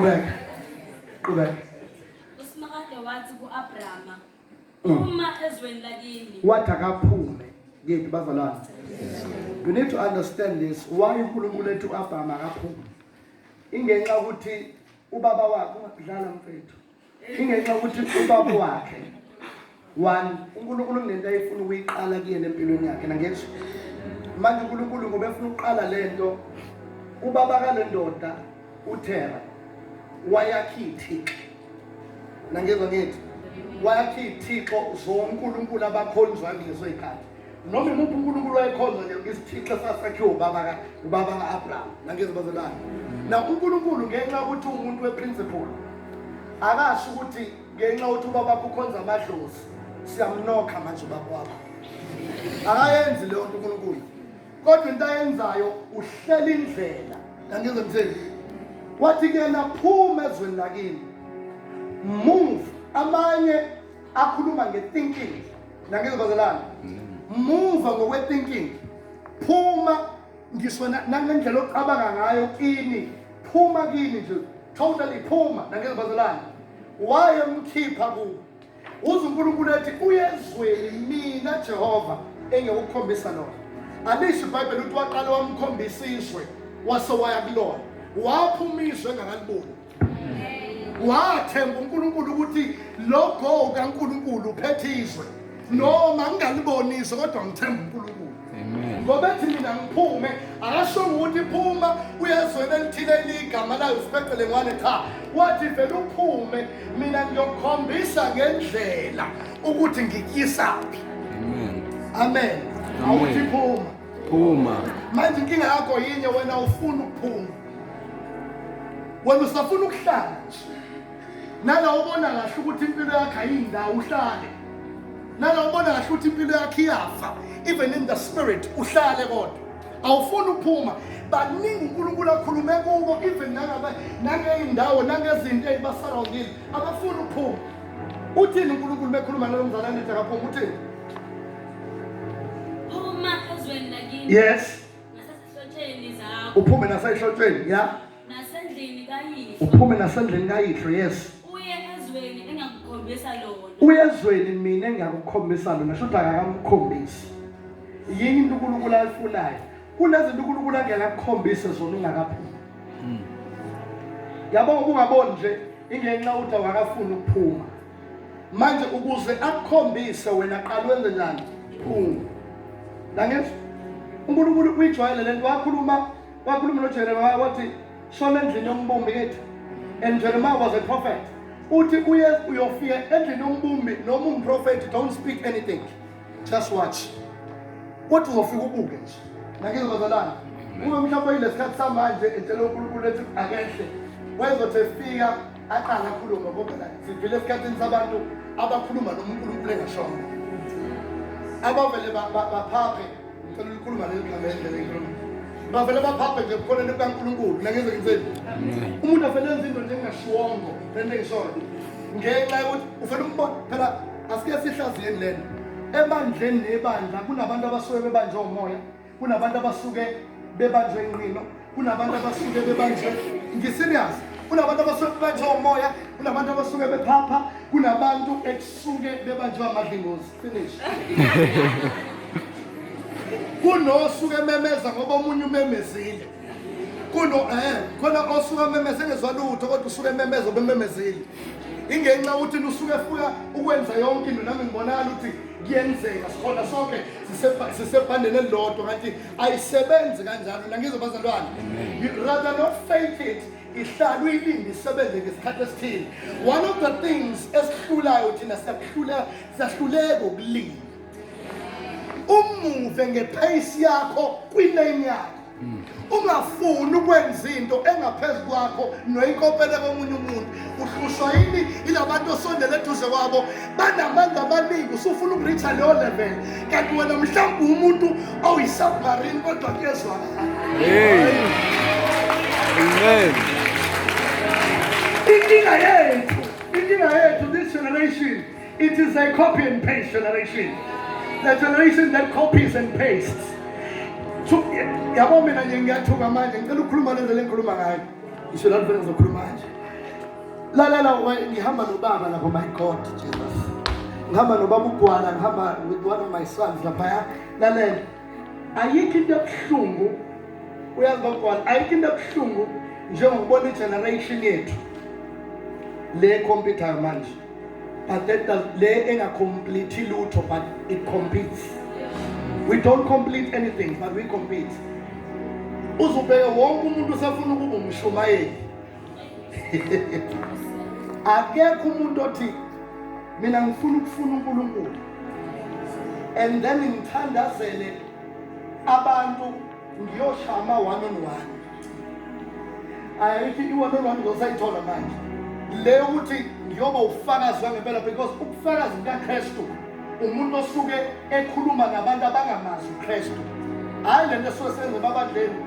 Qhubeka. Qhubeka. Usimakade wathi ku-Abrahama mm. uma ezweni lakini. Wathi akaphume kephi bazalwane. You need to understand this why uNkulunkulu ethi u-Abrahama akaphume. Ingenxa ukuthi ubaba wakhe ungadlala mfethu. ingenxa yokuthi ubaba wakhe one unkulunkulu kunento ayefuna ukuyiqala kuyena empilweni yakhe nangetsho manje unkulunkulu ngoba efuna ukuqala le nto ubaba kale ndoda uthera wayakhe ithixo nangezwa ngethi wayakhe ithixo zonkulunkulu abakhonzwa kulezo yikhathi noma imuphi unkulunkulu wayekhonza nje isithixo sasakhiwe ubaba ubaba ka-abraham nangezibazalwane na unkulunkulu ngenxa yokuthi uwumuntu weprinciple akasho ukuthi ngenxa yokuthi ubaba wakho ukhonza amadlozi siyamnokha manje ubaba wakho akayenzi leyo nto unkulunkulu kodwa into ayenzayo uhlela indlela nangenze mtheni wathi kuyena phuma ezweni lakini move amanye akhuluma nge-thinking nangizibazelana muva ngokwe-thinking phuma ngisho na- nangendlela ocabanga ngayo kini phuma kini nje totally phuma nangizibazelana wayemkhipha kubo uze unkulunkulu ethi uyezweni mina jehova engekukhombisa lona alisho ibhayibheli ukuthi waqale wamkhombisa izwe wase waya kulona waphuma izwe engakaliboni wathemba uNkulunkulu ukuthi lo go kaNkulunkulu uphethe izwe noma ngingalibonisi kodwa ngithemba uNkulunkulu ngoba ethi mina ngiphume akashongo ukuthi phuma uyezweni elithile eligama layo usipecele ngwane cha wathi vele uphume mina ngiyokukhombisa ngendlela ukuthi ngikuyisaphi amen awuthi phuma phuma manje inkinga yakho yinye wena ufuna ukuphuma wena usafuna ukuhlala nala ubona kahle ukuthi impilo yakhe ayindawo uhlale nala ubona kahle ukuthi impilo yakhe iyafa even in the spirit uhlale kodwa awufuni ukuphuma baningi uNkulunkulu akhulume kubo even nangabe nangeyindawo nangezinto ezibasurroundile abafuni ukuphuma uthini uNkulunkulu bekhuluma nalo mzalwane ethi akaphuma uthini yes uphume nasehlotshweni ya uphume nasendlini kayihlo yes uye ezweni mina engiyakukhombisa lona shuthi akakamkhombisi yini into unkulunkulu ayifunayo kunezinto unkulunkulu angekakukhombise zona ungakaphumi hmm. yabo ukungaboni nje ingenxa uthi awakafuni ukuphuma manje ukuze akukhombise wena qala wenze njani phungu nangezwa unkulunkulu uyijwayele le nto wakhuluma wakhuluma nojeremiya wathi shona endlini yombumbi kithi and jeremiya was a prophet uthi uye uyofika endlini yombumbi noma umprofethi don't speak anything just watch kodwa uzofika ubuke nje nangizwa bazalana uma mhlawumbe yilesikhathi samanje etshela unkulunkulu ethi akehle wayezothi efika aqala akhulume ngoba la sivile esikhathini sabantu abakhuluma nomunkulunkulu engashongo abavele baphaphe ngicela ulikhuluma leli gama endlela engikhuluma bavele baphaphe nje ebukhoneni bukankulunkulu nangenze ngitheni umuntu avele enza into njengashiwongo lento engishoyo ngenxa yokuthi ufele umbona phela asike sihlaziyeni lento ebandleni nebandla kunabantu abasuke bebanjwe umoya kunabantu abasuke bebanjwe inqino kunabantu abasuke bebanjwe ngiserious kunabantu abasuke bebanjwe umoya kunabantu abasuke bephapha kunabantu ekusuke bebanjwe amadlingozi finish kunosuke ememeza ngoba omunye umemezile kuno eh khona osuke ememeza engezwa lutho kodwa usuke ememeza obememezile ingenxa ukuthi lusuke efuna ukwenza yonke into nami ngibonakala ukuthi kuyenzeka sikhona sonke sisebhandeni elilodwa kanti ayisebenzi kanjalo nangizwe bazalwane you rather not fake it ihlala uyilinde isebenze ngesikhathi esithile one of the things esihlulayo thina siyakuhlula siyahluleka ukulinda umuve ngephayisi yakho kwilane yakho ungafuni ukwenza into engaphezu kwakho noyinkopele komunye umuntu uhlushwa yini ilabantu osondele eduze kwabo banamandla amaningi usufuna ukuritha leyo level kanti wena mhlawumbe umuntu oyisubmarine kodwa kuyezwakala inkinga yethu inkinga yethu this generation It is a copy and paste generation. The generation that copies and pastes. Yabo mina nje ngiyathuka manje ngicela ukukhuluma lento le ngikhuluma ngayo. Ngisho la ngifuna ngizokhuluma manje. Lalela ngihamba nobaba lapho my God Jesus. Ngihamba nobaba ugwala ngihamba with one of my sons lapha. Lalela. Ayikho into ebuhlungu uyazi bagwala ayikho into ebuhlungu njengokubona igeneration yethu le computer manje. but that does le engacomplete lutho but it competes we don't complete anything but we compete uzubheke wonke umuntu usefuna ukuba umshumayeli akekho umuntu othi mina ngifuna ukufuna uNkulunkulu and then ngithandazele abantu Ngiyosha ama one on one. Ayithi i one on one ngizosayithola manje. Le ukuthi ngiyoba ufakazi wangempela because ubufakazi bukaKristu umuntu osuke ekhuluma nabantu abangamazi uKristu. Hayi lento esuke senze babadleni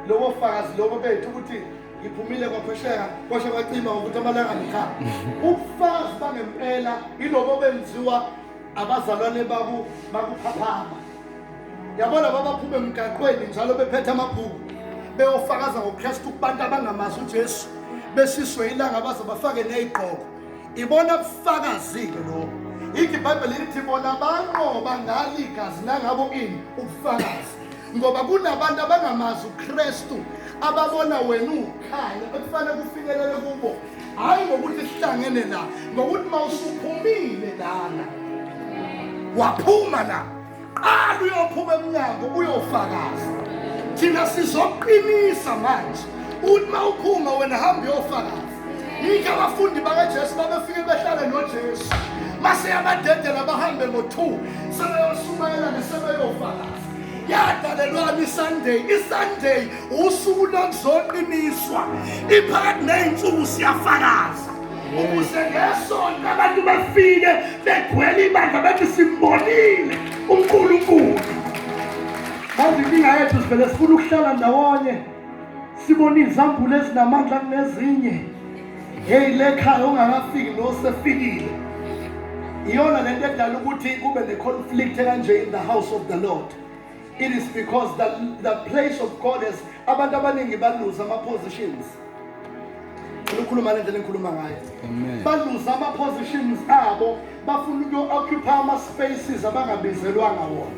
lowo fakazi lobo bethu ukuthi ngiphumile kwaphesheka kwashe kwacima ukuthi amalanga ngikha ubufakazi bangempela ilobo benziwa abazalwane baku bakuphaphama yabo laba baphuma emgaqweni njalo bephethe amabhuku beyofakaza ngokristu kubantu abangamazi ujesu beshiswe ilanga baze bafake neyigqoko ibona bufakazike lobo yikho ibhayibheli lithi bona banqoba ngalo igazi nangabo ini ubufakazi ngoba kunabantu abangamazi ukristu ababona wena ukhanya ekufanele kufikelele kubo hhayi ngokuthi sihlangene la ngokuthi uma usuphumile lana waphuma la qala uyophuma emnyango uyofakaza thina sizoqinisa manje uthi uma uphuma wena hamba uyofakaza yikho abafundi bakajesu babefike behlale nojesu maseyabadedela bahambe ngo-two sebeyoshumayelane sebeyofakaza yadalelwani isunday isunday usuku lokuzoqiniswa iphakathi ney'nsuku siyafakaza ukuze ngesonto abantu bafike begcwele ibandla bathi simbonile unkulunkulu manje inkinga yethu sivele sifuna ukuhlala ndawonye sibona izambulo ezinamandla kunezinye heyi le khaya ongakafiki nosefikile iyona le nto edala ukuthi kube ne-conflict kanje in the house of the lord it is because the, the place of God is abantu abaningi baluza ama positions ukhuluma lendlela engikhuluma ngayo baluza ama positions abo bafuna ukuyo-occupy ama spaces abangabizelwanga wona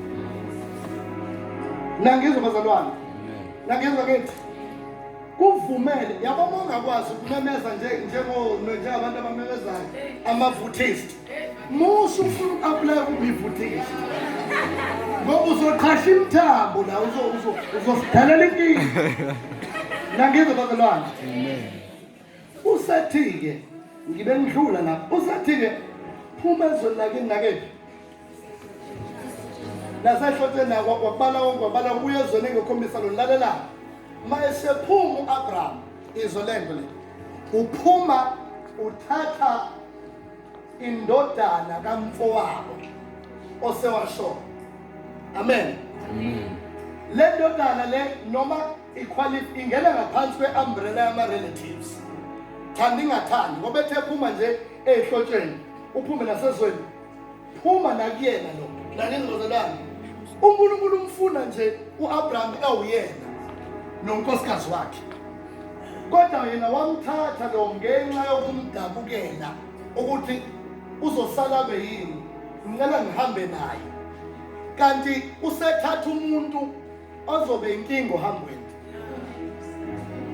nangizwa bazalwane nangizwa kithi kuvumele yabo uma ungakwazi ukumemeza njengabantu abamemezayo ama-vutist musa ufuna uku-aplaya kubivutisa ngoba uzoqhasha imithambo la uzosidalela inkinga nangizwe bazalwane usathi-ke ngibe ngidlula lapho usathi-ke phuma ezweni lake nakephi nasehlotsheni wakubala konke wabala kubuya ezweni engikhombisa lo lalela ma esephuma u-abraham izwe lento le uphuma uthatha indodana kamfowabo osewasho amen le ndodana le noma iqualif ingena ngaphansi kwe-umbrella yama-relatives thanda ingathandi ngoba ethe phuma nje eyihlotsheni uphume nasezweni phuma nakuyena lo naningqozelani unkulunkulu umfuna nje u-abraham ewuyena nonkosikazi wakhe kodwa yena wamthatha lo ngenxa yokumdabukela ukuthi uzosala be yini ngicela ngihambe naye kanti usethatha umuntu ozobe inkinga ohambweni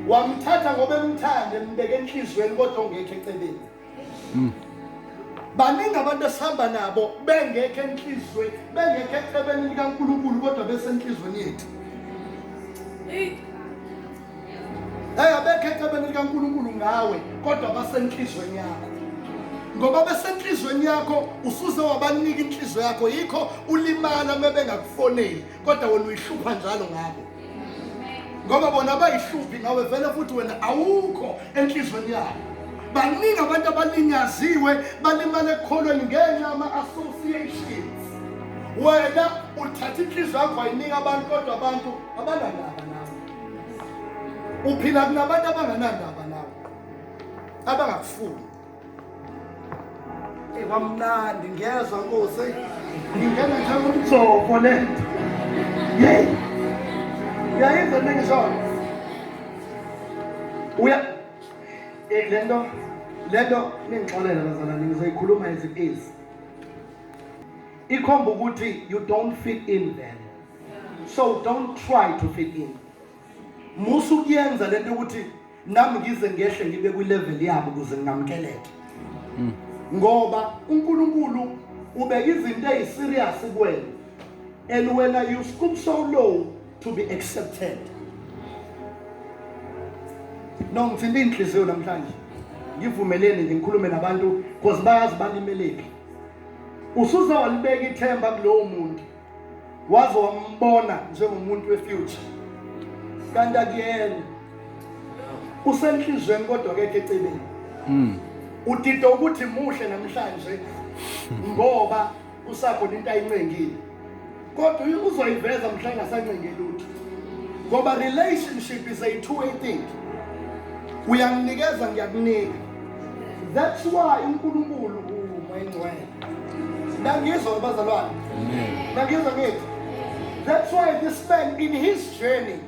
wamthatha ngoba emthanda embeke enhliziyweni kodwa ongekho eceleni Mm. baningi abantu esihamba nabo bengekho enhlizweni bengekho ecebeni likankulunkulu kodwa besenhlizweni yethu eyi abekho ecebeni likankulunkulu ngawe kodwa basenhlizweni yakho ngoba besenhlizweni yakho usuze wabanika inhliziyo yakho yikho ulimala uma bengakufoneli kodwa wena uyihlupha njalo ngabo ngoba bona abayihluphi ngawe vele futhi wena awukho enhlizweni yabo baningi abantu abalinyaziwe balimale ekukholweni ngenxa ama-associations wena uthatha inhliziyo yakho wayinika abantu kodwa abantu abanandaba nawe uphila kunabantu abanganandaba nawe abangakufuni kwamnandi ngiyezwa nkosi ngingena njengomjoko le yeyi uyayizwa into engishoyo uya eh, le nto le nto ningixolela bazalwane ngizoyikhuluma as it is ikhomba ukuthi you don't fit in then so don't try to fit in musa ukuyenza le nto ukuthi nami ngize ngehle ngibe kwilevel yabo ukuze ngingamkeleke mm. ngoba uNkulunkulu ubeka izinto eziserious kuwena and wena you stoop so low to be accepted no ngithinta inhliziyo namhlanje ngivumeleni nje ngikhulume nabantu because bayazi balimeleki usuze walibeka ithemba kulowo muntu waze wambona njengomuntu wefuture kanti akuyena usenhlizweni kodwa kekho eceleni mm. udida ukuthi muhle namhlanje ngoba usakhona into ayincengile kodwa uzoyiveza mhla engasancenge lutho ngoba relationship is a two way thing uyanginikeza ngiyakunika that's why unkulunkulu ungcwele Nangizwa bazalwane. Nangizwa ngithi. That's why this man in his journey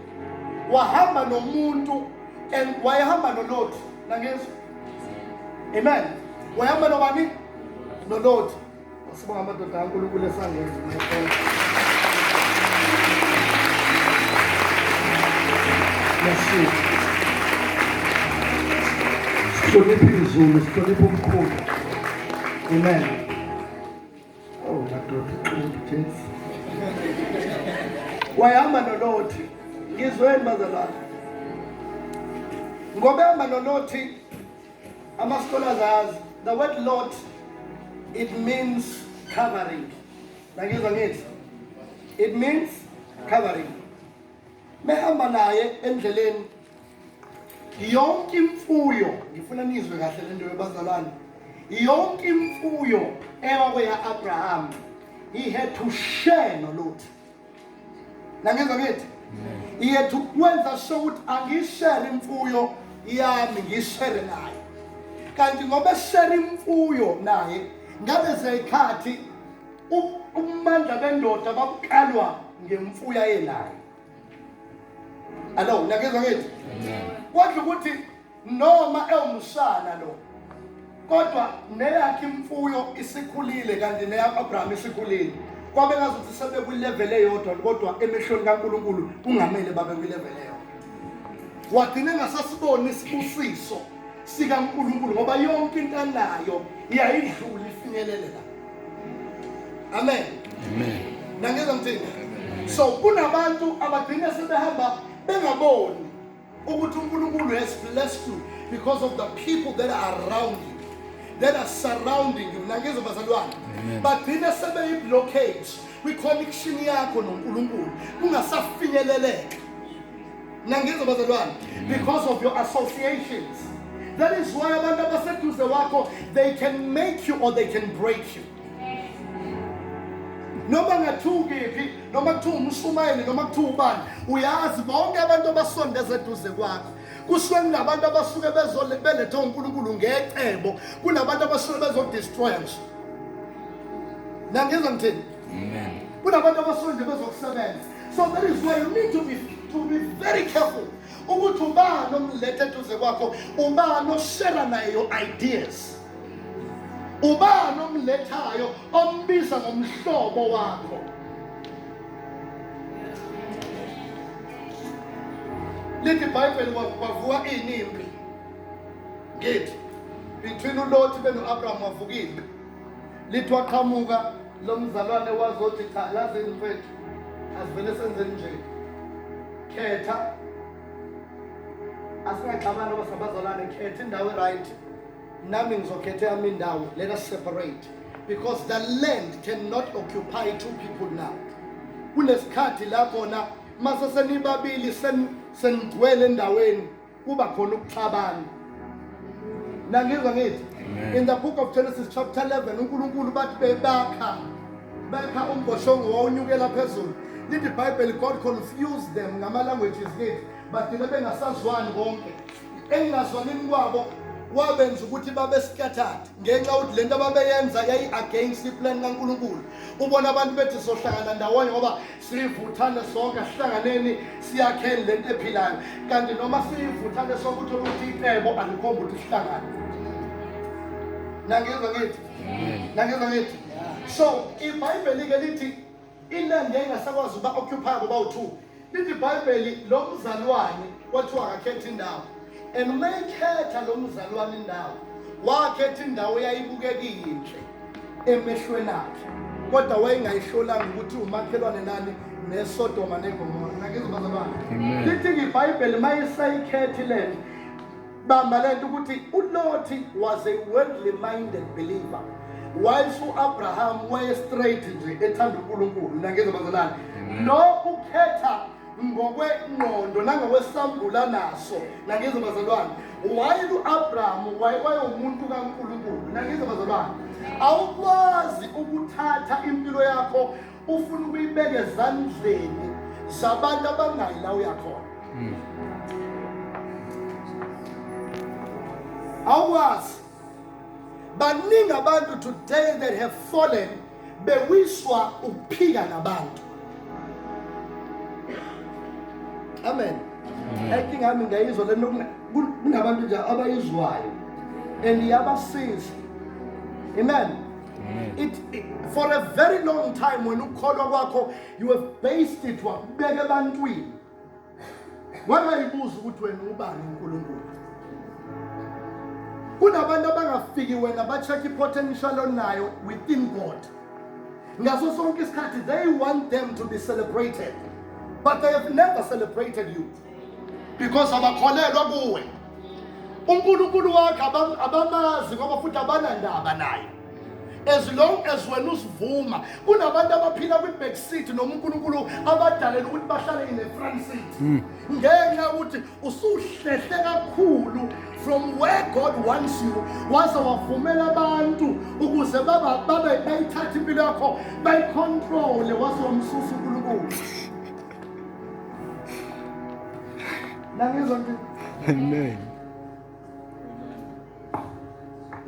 wahamba nomuntu and wayehamba nolothi. Nangizwa. Amen. Wayehamba nobani? Nolothi. Sibonga amadoda kaNkulunkulu esangenza. Yeshua. Sihloniphe izulu, sihloniphe umkhulu. Amen. Oh, madoda uqinile Jesu. Wayehamba noLothi. Ngizweni bazalwane. Ngoba ehamba noLothi ama-scholars ayazi the word Lot it means covering. Nangizwa ngithi it means covering. mehamba naye endleleni yonke imfuyo ngifuna nizwe kahle lento yobazalwane yonke imfuyo ewakwea Abraham he had to share no Lot nangenza ngithi he had to kwenza sure ukuthi angishare imfuyo yami ngishare naye kanti ngoba share imfuyo naye ngabe zeyikhathi ubumandla bendoda babukalwa ngemfuya enayo alo nakezwa ngithi kodwa ukuthi noma ewumshana lo kodwa neyakhe imfuyo isikhulile kanti neya-abrahama isikhulile kwabe ngazuthi sebekwileveli eyodwa kodwa emehlweni kankulunkulu kungamele babe kwileveli eyodwa wagcine ngasasiboni isibusiso sikankulunkulu ngoba yonke into anayo yayidlula ifinyelele la Amen. Amen. Nangizwa ngithini? So kunabantu abagcina sebehamba bengaboni ukuthi uNkulunkulu has blessed you because of the people that are around you that are surrounding you nangizwa bazalwane bagcina sebeyiblockage kwi-connection yakho noNkulunkulu kungasafinyeleleka nangizwa bazalwane because of your associations that is why abantu abaseduze wakho they can make you or they can break you noma ngathiwa ukephi noma kuthiwa umshumayeli noma kuthiwa ubani uyazi bonke abantu abasondeza eduze kwakho kushiwo kunabantu abasuke beletha unkulunkulu ngecebo kunabantu abasuke bezodestroya nje nangizwa ngithini kunabantu abasuke nje bezokusebenza So that is why you need to be, to be very careful ukuthi ubani omlethe eduze kwakho ubani oshera naye your ideas ubani omlethayo ombiza ngomhlobo wakho lithi ibhayibheli kwavuka ini impi ngithi between ulothi beno-abraham wavuka impi lithi waqhamuka lo mzalwane wazothi cha yazi mfethu asivele senzeni nje khetha asingaxabani oba sabazalwane khetha indawo eright nami ngizokhetha yami indawo let us separate because the land cannot occupy two people now kunesikhathi la khona mase senibabili senigcwele endaweni kuba khona ukuxabana nangizwa ngithi in the book of genesis chapter 11 unkulunkulu bathi bebakha bekha umboshongo wawunyukela phezulu lithi ibhayibheli god confuse them ngama-languages kithi bagcine bengasazwani konke engingazwanini kwabo wabenza ukuthi babe scattered ngenxa yokuthi lento ababeyenza yayi-against iplan kankulunkulu ubona abantu bethi sohlangana ndawonye ngoba sivuthane sonke asihlanganeni siyakheni lento ephilayo kanti noma sivuthane sonke uthola ukuthi icebo alikhomba ukuthi sihlangane nangezwa ngithi nangezwa ngithi so ibhayibheli-ke lithi ilande ingasakwazi uba occupy ngoba u-two lithi ibhayibheli lo mzalwane kwathiwa akakhetha indawo and uma ekhetha lo mzalwane indawo wakhetha indawo eyayibukeka iyinhle emehlweni akhe kodwa wayengayihlolanga ukuthi umakhelwane nani nesodoma negomora nakizobazalwane lithi ngibhayibheli uma isayikhethi le nto bamba le nto ukuthi ulothi was a worldly minded believer whilst u-abraham waye-straight nje ethanda unkulunkulu nakizobazalwane lo ukhetha ngokwengqondo nangokwesambula naso nakizo bazalwane wayile u-abrahamu wayewumuntu kankulunkulu nakizo bazalwane awukwazi ukuthatha impilo yakho ufuna ukuyibeka ezandleni zabantu abangayi la uyakhona hmm. awukwazi baningi abantu today that have fallen bewiswa ukuphila nabantu amen enking yami ngiyayizwa lento kunabantu nje abayizwayo and iyabasiza amen It, it, for a very long time when ukholwa kwakho you have based it wakubeka ebantwini wangayibuza ukuthi wena ubani uNkulunkulu kunabantu abangafiki wena ba-check i-potential onayo within God ngaso sonke isikhathi they want them to be celebrated but they have never celebrated you because abakholelwa kuwe uNkulunkulu wakhe abamazi ngoba futhi abanandaba naye as long as wena usivuma kunabantu abaphila kwi-back seat noma unkulunkulu abadalela ukuthi bahlale in the front seat hmm. ngenxa yokuthi usuhlehle kakhulu from where god wants you waze wavumela abantu ukuze babe bayithathe impilo yakho bayicontrole waze wamsusa unkulunkulu nangizwa nje amen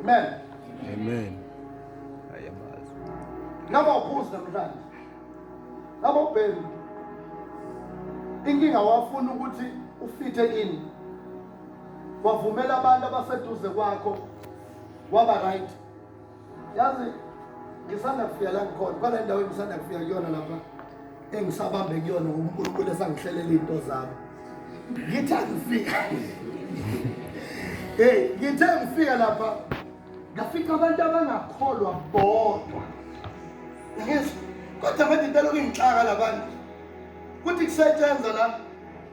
Amen. Amen. Ayamazi. Ngaba uphuza namhlanje. Ngaba ubhemi. Inkinga wafuna ukuthi ufithe kini. Wavumela abantu abaseduze kwakho waba right. yazi ngisanda kufika la ngikhona kwale ndawo engisanda kufika kuyona lapha engisabambe kuyona unkulunkulu esangihlelela iy'nto zami ngithe ngifika heyi ngithe ngifika lapha ngafika abantu abangakholwa bodwa kodwa manje into lokhu ingixaka la bantu kuthi kusetshenzwa la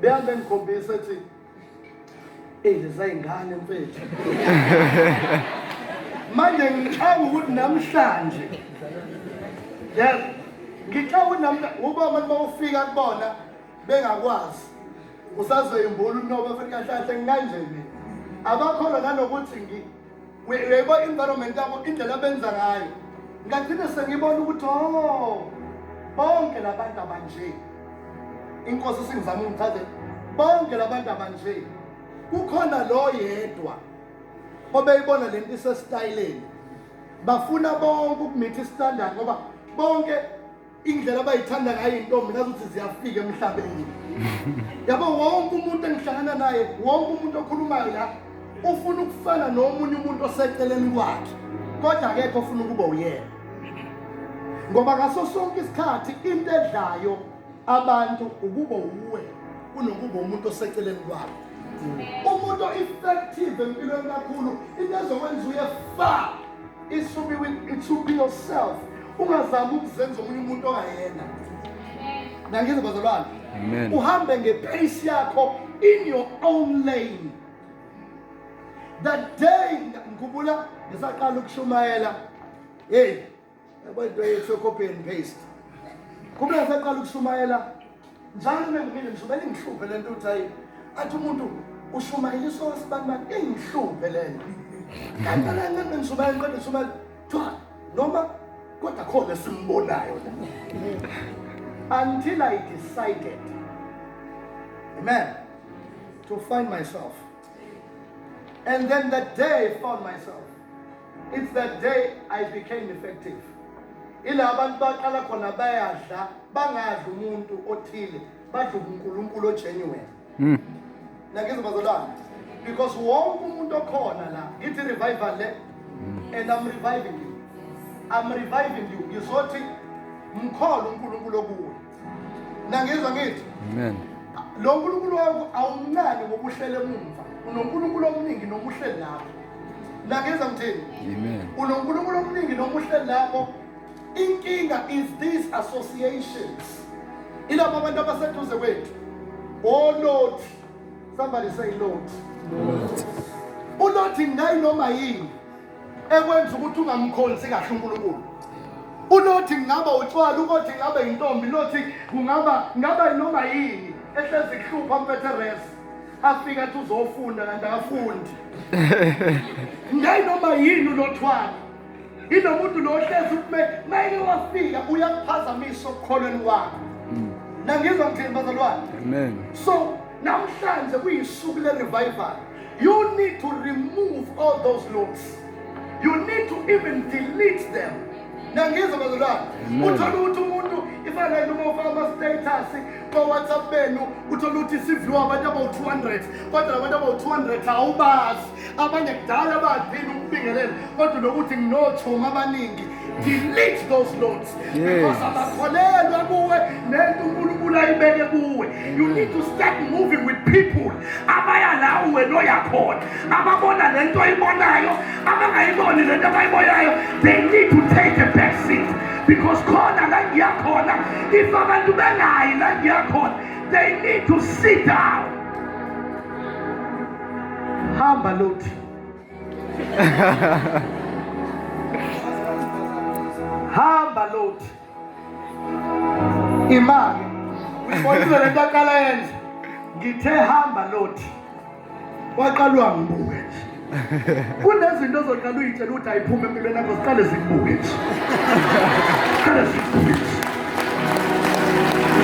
behambe ngikhombisa ethi eyi lezayingane mfethu manje ngicanga ukuthi namhlanje yes ngicanga ukuthi namhlanje ngoba abantu bawufika kubona bengakwazi usazoyimbula unoba futhi kahle kahle ngikanje mina abakholwa nanokuthi uyayibona i-environment yabo indlela abenza ngayo ngagcine sengibona ukuthi o oh, bonke la bantu abanje inkosi isingizama ungichazele bonke la bantu abanje kukhona lo yedwa obeyibona le nto isesitayileni bafuna bonke ukumitha istandard ngoba bonke indlela abayithanda ngayo iy'ntombi ngazi ukuthi ziyafika emhlabeni yabo wonke umuntu engihlangana naye wonke umuntu okhulumayo la ufuna ukufana nomunye umuntu oseceleni kwakhe kodwa akekho ofuna ukuba uyena ngoba ngaso sonke isikhathi into edlayo abantu ukuba uwe kunokuba umuntu oseceleni kwakho umuntu o-effective empilweni kakhulu into ezokwenza uye fa It should be with, it should be yourself. Ungazama ukuzenza omunye umuntu ongayena. Nangizwe bazalwane. Amen. Uhambe ngepace yakho in your own lane. That day ngikubula ngisaqala ukushumayela. Hey, Abantu bayethu copy and paste. Kube saqala ukushumayela njalo mengimile ngishumayela ingihluphe lento uthi hayi athi umuntu ushumayela isoka sibanibani ingihluphe lento. Kanti la ngibe ngishumayela ngiqeda ngishumayela twa noma kodwa khona simbonayo la. Until I decided. Amen. To find myself. And then the day I found myself. It's that day I became effective. Ila abantu baqala khona bayadla bangadli umuntu othile badla uNkulunkulu ogenuine. Mm. Nakizwa bazalwane because wonke umuntu okhona la ngithi revival le mm. and I'm reviving you. I'm reviving you. Ngizothi mkholo uNkulunkulu okuwe. nangizwa ngithi amen lo nkulunkulu wakho awumncane ngokuhlele emumva unonkulunkulu omningi nokuhleli lapho nangizwa ngithini amen unonkulunkulu omningi nokuhleli lapho inkinga is these associations ilabo abantu abaseduze kwethu olothi somebody say lothi ulothi ngayinoma yini ekwenza ukuthi ungamkhonzi kahle uNkulunkulu unothi ngingaba utshwala ukothi ngingaba yintombi nothi kungaba ngaba noma yini ehlezi kuhlupha mpethe resi afike athi uzofunda kanti akafundi ngayinoma yini unothwala inomuntu lo ohlezi ukume mayike wafika uyakuphazamisa okukholweni kwakho mm. nangizwa ngithini bazalwane so namhlanje kuyisuku le-revival You need to remove all those looks. You need to even delete them. Nangizwa bazalwane. Uthola ukuthi umuntu ifanele uma ufaka ama status kwa WhatsApp benu uthola ukuthi siview abantu abawu 200 kodwa abantu abawu 200 awubazi. Abanye kudala badini ukubingelela kodwa lokuthi nginochoma abaningi delete those notes because abakholelwa kuwe nento unkulunkulu ayibeke kuwe you need to start moving with people abaya lawo wena oyakhona ababona le nto oyibonayo abangayiboni le nto abayibonayo they need to take a back seat because khona la ngiyakhona if abantu bengayi la ngiyakhona they need to sit down hamba lothi hamba loti imali uyibonile le nto aqala yenza ngithe hamba loti waqalwa ngibuke nje kunezinto ozoqala uyitshela ukuthi ayiphume empilweni yakho ziqale zikubuke nje ziqale zikubuke nje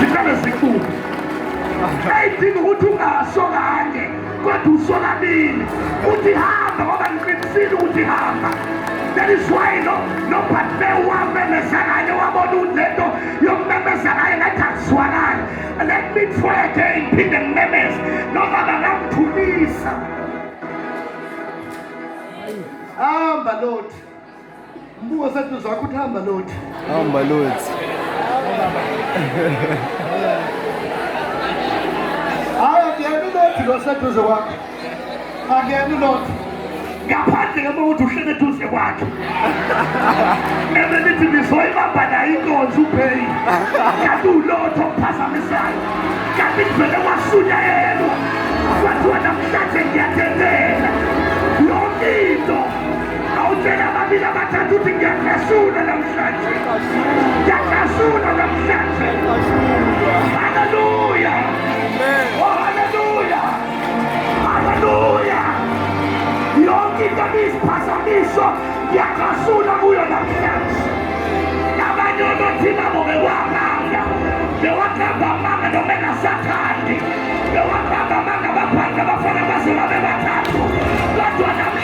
ziqale zikubuke ayidinga ukuthi ungasho kanye Kodwa usonamile uthi hamba ngoba ngiqinisile ukuthi hamba that is why no nophathe wamemeza kanye wabona unento yokumemeza kanye ngathi akuzwakali let me try again phinde ngimemeze noma bangamthulisa hamba lord Mbuka sathi zakho uthamba lothi. Hamba lothi. Hayi akuyeni lothi lo seduze kwakho. Akuyeni lothi. Ngaphandle kama ukuthi uhlele duze kwakhe. Nebe nithi nizoyibamba nayo inkonzo ubheyi. Kanti ulotho okuphazamisayo. Kanti kuvele kwasunya yelwa. Kwathiwa namhlanje ngiyathethe. Awutshela ababili abathathu ukuthi ngiyaklasula namhlanje. Ngiyaklasula namhlanje. Haleluya. Oh haleluya. Haleluya. Yonke into ebiyiphazamiso ngiyaklasula kuyo namhlanje. Abanye onothi nabo bekwamanga. Bewakamba amanga noma engasakhandi. Bewakamba amanga abaphansi abafana baze babe bathathu. Kodwa namhlanje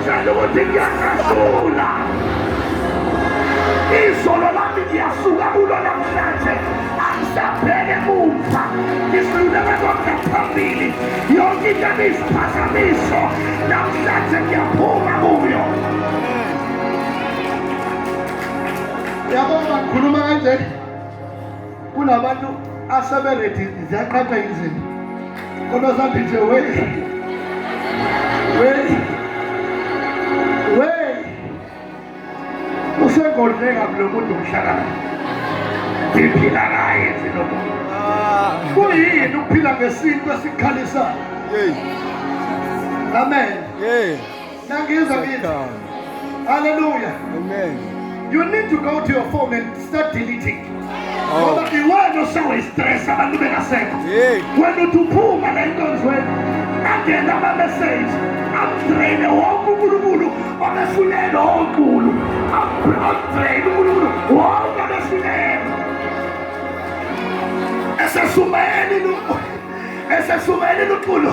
Njalo ukuthi ngiyakasula. Izolo lami ngiyasuka kulo namhlanje. Angisabheke emuva. Ngisiluleka konke phambili. Yonke into ebiyiziphazamiso namhlanje ngiyaphuma kuyo. Yabona khuluma kanje. kunabantu aseberedi ziyaqhatha izinto kodwa sathi nje we we we usegodleka kulo muntu umhlakana ngiphila naye zinomuntu kuyini ukuphila ngesintu esikhalisayo amen Nangizwa ngithi. Hallelujah. Amen. You need to go to your phone and start deleting. Oh. Ngoba iwena oshawa istress abantu bengasekho. Wena uthi uphuma la enkonzweni angena ama message amdraine wonke uNkulunkulu obefunela onkulu amdraine uNkulunkulu wonke obefunela esesumeni esesumeni uNkulunkulu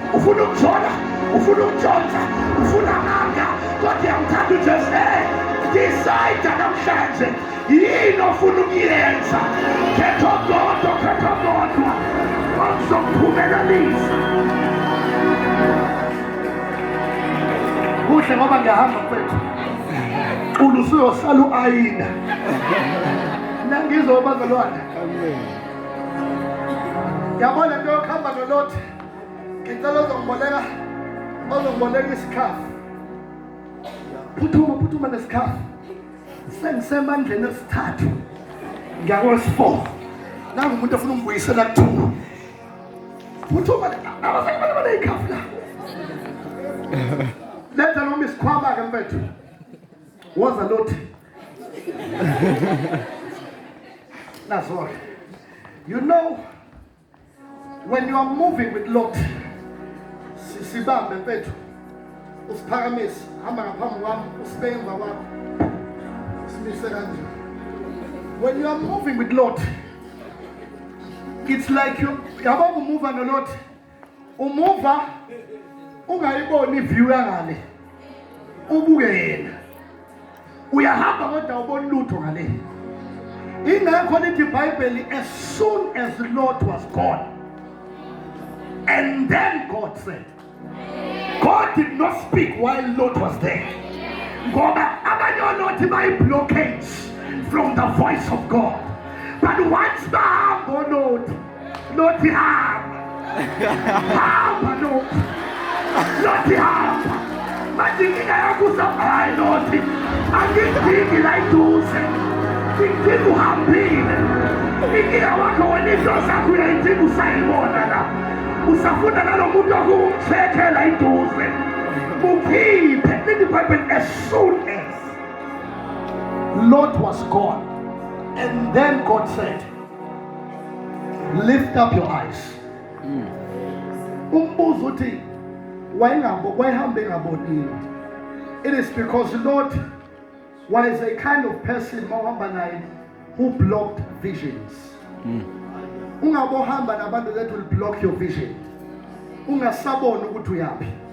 ufuna ukujona ufuna ukujona ufuna amanga kodwa yamthanda ujesu e decide namhlanje yini ofuna ukuyenza khetha okodwa khetha okodwa okuzokuphumelanisa kuhle ngoba ngiyahamba mfethu cula usuyosala u-ayina nangizwa ubazalwane yabona nto yokuhamba nolothi Ngicela uzongiboleka ozongiboleka isikhafu. Phuthuma phuthuma nesikhafu. Sengisemandleni esithathu. Ngiyakwesi-four. Nangu umuntu ofuna ungibuyisela kuthuma. Phuthuma abafana abantu abaneyikhafu la. Letha noma isikhwama ke mfethu. Woza lothi. That's all. You know When you are moving with Lot, sibambe mfethu. Usiphakamise, hamba ngaphambi kwami, usibe emva kwakho. Simise kanje. When you are moving with Lot, it's like you yabo kumuva no Lot. Umuva ungayiboni view yangale. Ubuke yena. uyahamba kodwa ubona lutho ngale ingakho lithi ibhayibheli as soon as the lord was gone and then god said god did not speak while lord was there ngoba abanye olothi bayi-blockage from the voice of god but once bahamba olothi Lothi hamba. Hamba lothi. Lothi hamba. Manje inkinga yakho usahamba hayi lothi. Angidingi la iduze. Ngidinga uhambile. Inkinga wakho wena into zakho uyayidinga usayibona la. Usafunda nalo muntu okuwumthethela iduze. Mukhiphe. Lithi iBhayibheli as soon as Lot was gone. And then God said, lift up your eyes mm. umbuzo uthi wayengabo wayehambe ngabonile it is because the lord was a kind of person mawuhamba naye who blocked visions mm. ungabohamba nabantu that will block your vision ungasaboni ukuthi uyaphi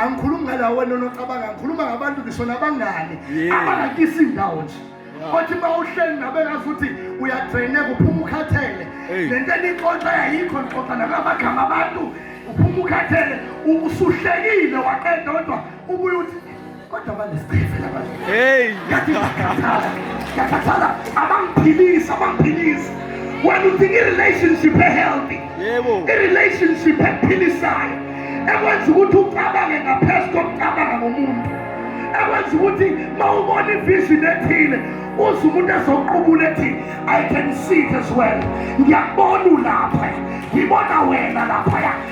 angikhulumi ngalawo wena onocabanga ngikhuluma ngabantu ngisho nabangani abangakisi indawo nje othi uma uhleli nabekazi ukuthi uyadraine kuphuma ukhathele le nto enixoxa yayikho nixoxa nakamagama abantu uphuma ukhathele usuhlekile waqeda kodwa ubuye uthi Kodwa banesicefe labanye. Hey, yathi yakhathala. Yakhathala abangiphilisa, abangiphilisa. Wena udinga i-relationship e-healthy. Yebo. I-relationship ephilisayo. Ekwenza ukuthi ucabange ngaphezu kokucabanga ngomuntu. Ekwenza ukuthi mawubona ivision ethile uze umuntu ezoqubula ethi I can see it as well. Ngiyakubona ulapha. Ngibona wena lapha.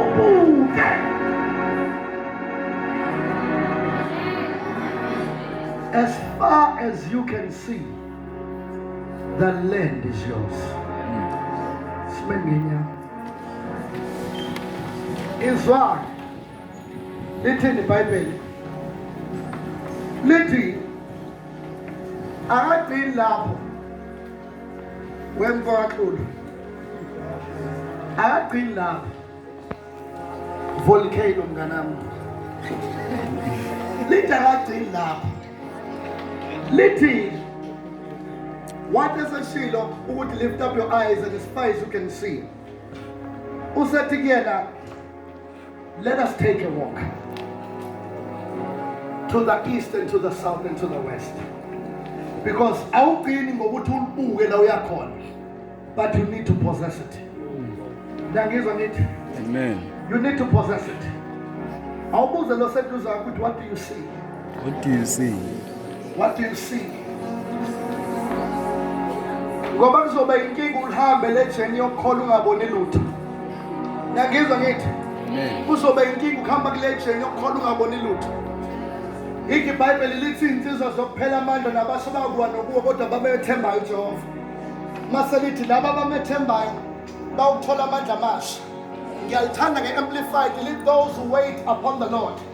ubuke as far as you can see the land is yours sime nginya izwa lithini ibhayibheli lithi akagcini lapho wemfowaklulo akagcini lapha volcano mnganami lithi akagcini lapha lithi what is a shilo ukuthi lift up your eyes and as far as you can see usethi kuyena Let us take a walk to the east and to the south and to the west. Because awugcini ngokuthi ulibuke la uyakhona but you need to possess it. Ngiyangizwa ngithi Amen. You need to possess it. Awubuze lo seduze ukuthi what do you see? What do you see? What do you see? Ngoba kuzoba inkinga ulihambe le journey yokukhola ungaboni lutho. Nangizwa ngithi kuzoba inkinga ukuhamba kule journey yokukhola ungaboni lutho. Yikho iBhayibheli lithi insizwa zokuphela amandla nabasho bakuwa nokuwa kodwa babethembayo uJehova. Mase lithi laba abamethembayo bawuthola amandla amasha. Ngiyaluthanda nge-amplified lithi those who wait upon the Lord.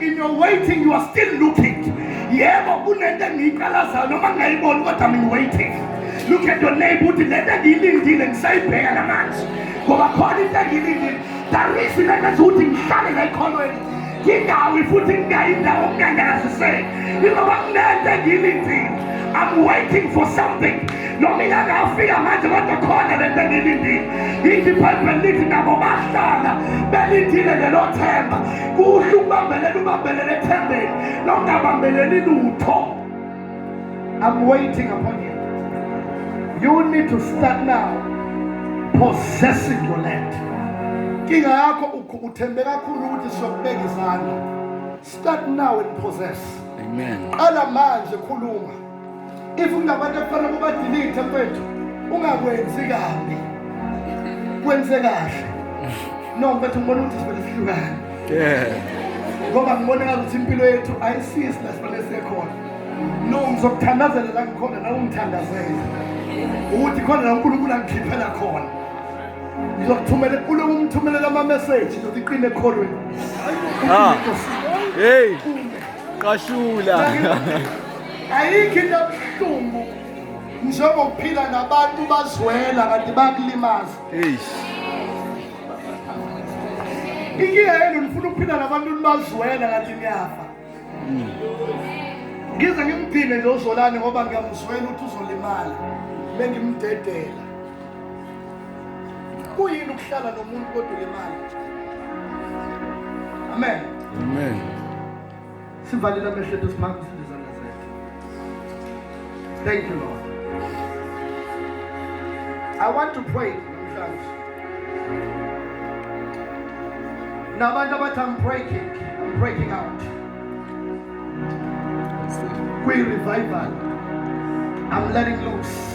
in your waiting you are still looking yebo kunento engiyiqalazayo noma ngingayiboni kodwa mina waiting look at your neighbor uthi lento engiyilindile ngisayibheka namanje ngoba khona into engiyilindile darisi lento ethi ukuthi ngihlale ngayikholweni ngingawi futhi ngingayi ndawo ngingangaziseki ingoba kunento engiyilindile I'm waiting for something noma ingangafika manje kodwa khona lento engiyilindile ithi ibhayibheli lithi nabo bahlala belindile lelo themba kuhle ukubambelela ubambelele ethembeni nokungabambeleli lutho i'm waiting upon you you need to start now possessing your land inkinga yakho uthembe kakhulu ukuthi siyokubeka izandla start now and possess amen qala manje khuluma if ungabantu ekufanele ubadilithe mfethu ungakwenzi kabi kwenze kahle no mfethu ngibona ukuthi sivele sihlukane ngoba ngibona ngakuthi impilo yethu ayisisi la sifanele sekhona no ngizokuthandazela la ngikhona nawe ungithandazele ukuthi khona la unkulunkulu angikhiphela khona ngizokuthumela uloku umthumelela amameseji ngizothi iqine ekholweni ah. heyi qashula ayikho into ebuhlungu njengokuphila nabantu bazwela kanti bakulimaza inkinga yenu nifuna ukuphila nabantu nibazwela kanti niyafa hmm. ngize ngimdine nje uzolane ngoba ngiyamzwela ukuthi uzolimala bengimdedela kuyini ukuhlala nomuntu kodwa ulimala amen amen Sivalile amehlo ethu siphakamise izandla zethu. Thank you Lord. I want to pray namhlanje. Nabantu abathi I'm breaking, I'm breaking out. We revival. I'm letting loose.